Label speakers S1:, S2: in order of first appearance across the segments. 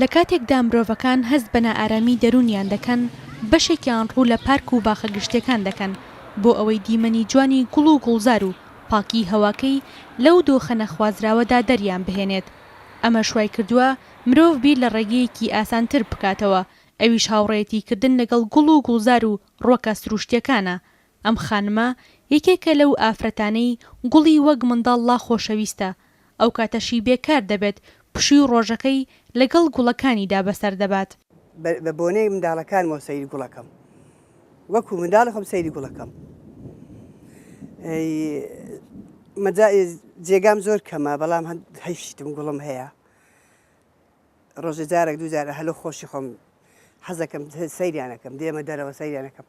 S1: لە کاتێکدا مرۆڤەکان هەست بە نائارامی دەروونیان دەکەن، بەشێکیان ڕوو لە پارک و باخە گشتییەکان دەکەن بۆ ئەوەی دیمەنی جوانی گوڵ و گوڵزار و پاکیی هەواکەی لەو دۆخە نەخوازراوەدا دەریان بهێنێت. ئەمەش وای کردووە مرۆڤ بیر لە ڕێگەیەکی ئاسانتر بکاتەوە، ئەویش هاوڕێیەتیکردن لەگەڵ گوڵ و گوڵزار و ڕوەکە سرووشتییەکانە، ئەم خانمە یەکێکە لەو ئافرەتانەی گوڵی وەک منداڵ لا خۆشەویستە، ئەو کاتەشی بێ کار دەبێت پشووی ڕۆژەکەی لەگەڵ گوڵەکانیدا بەسەر دەبات. بە بۆنەی
S2: منداڵەکانمەوە سەیری گوڵەکەم، وەکوو منداڵی خۆم سەیری گوڵەکەم. جێگام زۆر کەمە، بەڵام هەیف شیتم گوڵم هەیە. ڕۆژێ جارێک دوو جارە هەلو خۆشی خۆم حەزەکەم سەیریانەکەم دێمە دەرەوە سەیریانەکەم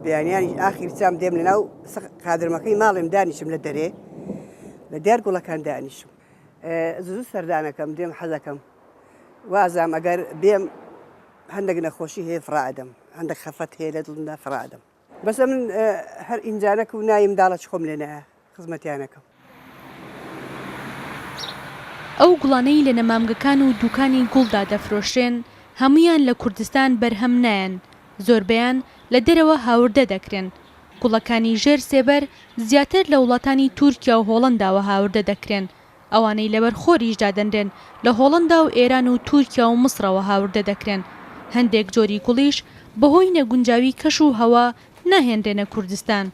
S2: بیانیانی ئاخیر چام دێم لە ناو قادرمەکەی ماڵێم دانیشم لە دەرێ لە دیار گوڵەکان دانیشم زوو سەردانەکەم دێم حەزەکەم وازام ئەگەر بێم هەندێک نەخۆشی هەیە فڕادەم هەندێک خەفەت هەیە لە دڵمدا فڕادەم بەس ئەمن هەر ئینجانەک و نایم داڵە چ خۆم لێ نایە خزمەتیانەکەم.
S1: ئەو گوڵانەی لە نەمامگەکان و دوکانی گوڵدا دەفرۆشرێن هەموویان لە کوردستان بەرهەم نایەن زۆربەیان لە دەرەوە هاوردە دەکرێن گوڵەکانی ژێر سێبەر زیاتر لە وڵاتانی تورکیا و هۆڵەنداوە هاوردە دەکرێن ئەوانەی لەبەر خۆریش دادەنرێن لە هۆڵەندا و ئێران و تورکیا و مصرەوە هاوردە دەکرێن، هەندێک جۆری گوڵیش بەهۆی نەگونجاوی کەش و هەوا ناهێنرێنە کوردستان.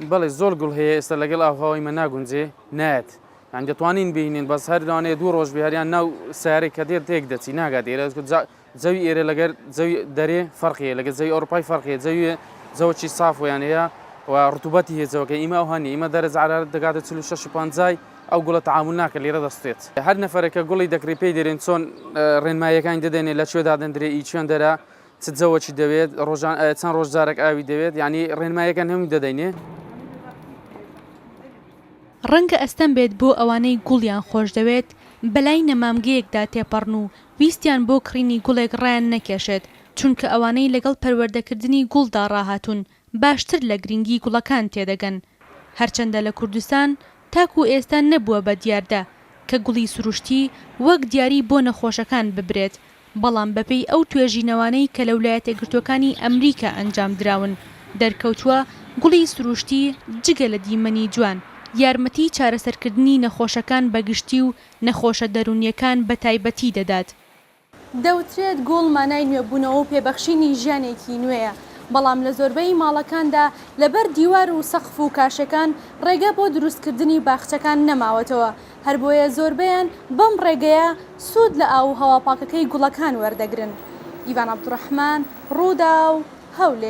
S1: بەڵێ
S3: زۆر گوڵ هەیە ئێستا لەگەڵ ئاو هەوای مە ناگونجێ نایەت یانی دەتوانین بینین بەس هەر لەوانەیە دوو ڕۆژ بێ هەر یان ناو سەیارەی کە دێت تێک دەچی ناگات ئێرە جا زەوی ئێرە لەگەر زەوی دەرێ فەرقی هەیە، لەگەر زەوی ئەوروپای فەرقی هەیە، زەوی وێ زەوەکی ساف وێیان هەیە و ڕتوبەتی هەیە زەوەکە، ئیمە ئەوها نیە، ئیمە دەرەجە عەرارەت دەگاتە چل و شەش و پەنجای، ئەو گوڵە تەعامول ناکەت لێرە دەسوتێت. هەر نەفەرێک کە گوڵی دەکڕی پێی دەرێن چۆن ڕێنماییەکانی دەدەنێ لە کوێ دادەندرێ ئی چوێندەرە چ جەوەکی دەوێت ڕۆژان چەند ڕۆژ جارەک ئاوی دەوێت یانی ڕێنماییەکان هەمووی دەدەینێ.
S1: ڕەنگە ئەستەم بێت بۆ ئەوانەی گوڵیان خۆش دەوێت بەلای نەمامگەیەکدا تێپەڕن و ویستیان بۆ کڕینی گوڵێک ڕایان نەکێشێت، چونکە ئەوانەی لەگەڵ پەروەردەکردنی گوڵدا ڕاهاتوون باشتر لە گرنگی گوڵەکان تێدەگەن، هەرچەندە لە کوردستان تاکو ئێستا نەبووە بە دیاردە کە گوڵی سروشتی وەک دیاری بۆ نەخۆشەکان ببرێت، بەڵام بەپێی ئەو توێژینەوانەی کە لە ولایەتەگرتووەکانی ئەمریکا ئەنجامدراون دەرکەوتووە گوڵی سروشتی جگە لە دیمەنی جوان یارمەتی چارەسەرکردنی نەخۆشەکان بەگشتی و نەخۆشە دەروونییەکان بە تایبەتی دەدات. دەوترێت گوڵ مانای نوێبوونەوە و پێبەخشینی ژیانێکی نوێیە، بەڵام لە زۆربەی ماڵەکاندا لەبەر دیوار و سەقف و کاشەکان ڕێگە بۆ دروستکردنی باخچەکان نەماوەتەوە، هەربۆیە زۆربەیان بەم ڕێگەیە سوود لە ئاو و هەوا پاکەکەی گوڵەکان وەردەگرن. ئیڤان عەبدوڕەحمان، ڕووداو، هەولێر.